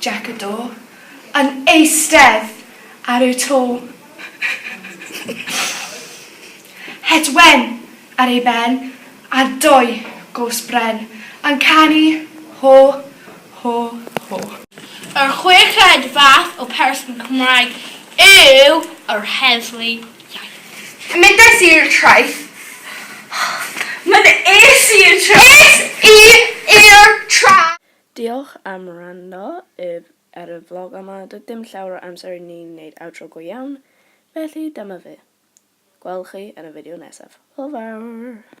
Jac y Do, yn eistedd ar y to. Het wen ar ei ben, a dou gos bren, yn canu Ho, ho, ho. Yr chweched fath o person Cymraeg yw yr heddlu iaith. Yn mynd ais i i'r traeth. Yn mynd ais i i'r traeth. Ais i i'r traeth. Diolch am wrando ef ar y vlog yma, doedd dim llawer o amser i ni wneud outro go iawn, felly dyma fe. Gwelwch chi yn y fideo nesaf. Hwyl fawr!